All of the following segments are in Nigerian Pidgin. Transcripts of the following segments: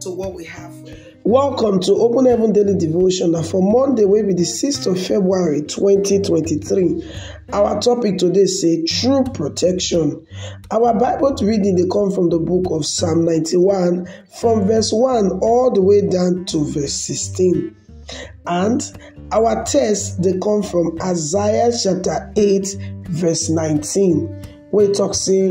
to what we have for you. Welcome to Open Heaven Daily Devotion na for Monday wey be the 6th of February 2023. Our topic today say true protection. Our Bible reading dey come from the book of Psalm 91 from verse 1 all the way down to verse 16. And our text dey come from Isaiah chapter 8 verse 19 wey talk say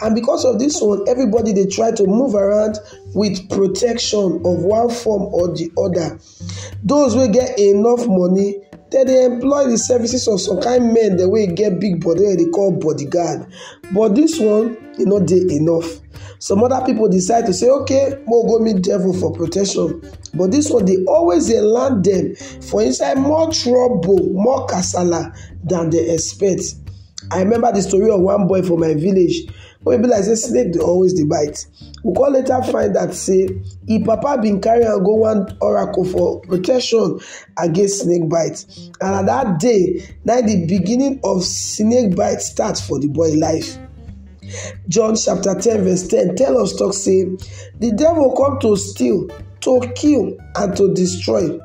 And because of this one, everybody they try to move around with protection of one form or the other. Those will get enough money, then they employ the services of some kind men the way get big body wey dey call bodyguard but this one e no dey enough some other people decide to say okay mo go meet devil for protection but this one dey always dey land them for inside more trouble more kasala than they expect I remember the story of one boy for my village wey be like say snake dey always dey bite. We come later find out say im papa bin carry am go one oracle for protection against snake bite and na that day na the beginning of snake bite start for the boy life. John chapter ten verse ten tell us talk say the devil come to steal, to kill and to destroy.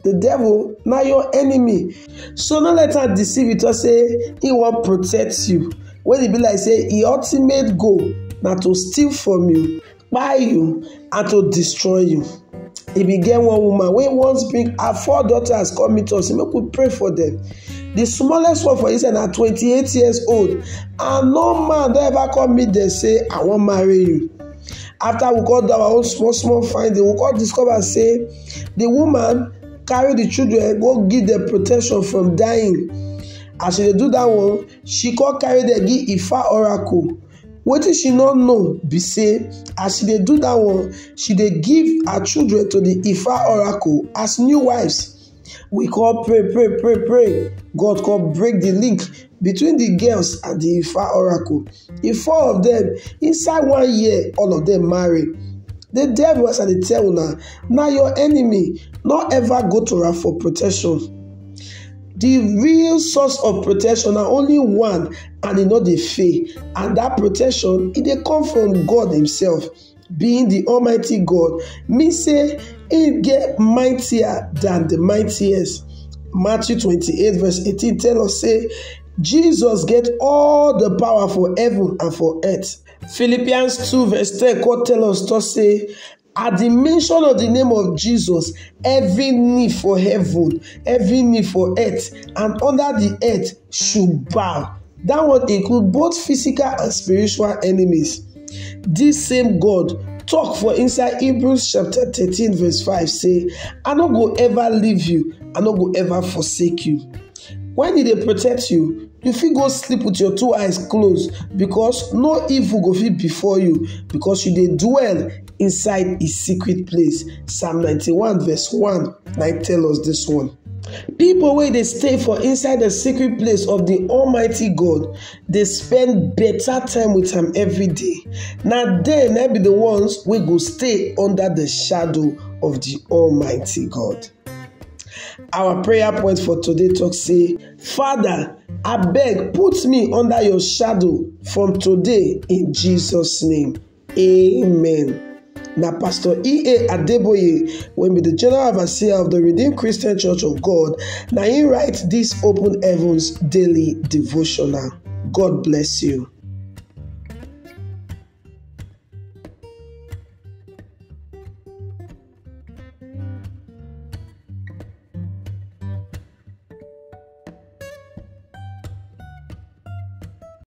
the devil na your enemy so no let am deceive you talk say he wan protect you when e be like say e ultimate goal na to steal from you buy you and to destroy you e bin get one woman wey once bring her four daughters come meet us say make we pray for them. The smallest one for inside na 28 years old and no man don ever come meet dem say i wan marry you after we come do our own small small finding we come discover say the woman carry the children go give them protection from dying as she dey do that one she come carry them give ifa oracle wetin she no know be say as she dey do that one she dey give her children to the ifa oracle as new wives We come pray, pray, pray, pray. God come break the link between the girls and the Ifa oracle. The four of them, inside one year, all of them marry. The devil as I dey tell una, na your enemy, no ever go to am for protection. The real source of protection na only one and e no dey fail and that protection e dey come from God himself. Being di Almighty God mean say im dey mightier dan di mightiest. Matthew twenty eight verse eighteen tell us say Jesus get all di power for heaven and for earth. Philippians two verse ten come tell us to say at di mention of di name of Jesus every knee for heaven, every knee for earth and under di earth should bow. That one include both physical and spiritual enemies. This same God talk for inside Hebrews chapter 13 verse 5 say, I no go ever leave you, I no go ever forsake you. When did they protect you, you fit go sleep with your two eyes closed because no evil go fit before you because you dey dwell inside his secret place. Psalm 91 verse 1 na tell us this one. People wey dey stay for inside the secret place of the Almighty God dey spend better time with am every day. Na dem na be the ones wey go stay under the shadow of the Almighty God. Our prayer point for today talk say, Father, abeg put me under your shadow from today in Jesus name. Amen. na pastor ea adeboye wey be di general overseer of di redeemed christian church of god na im write dis open heavens daily devotional god bless you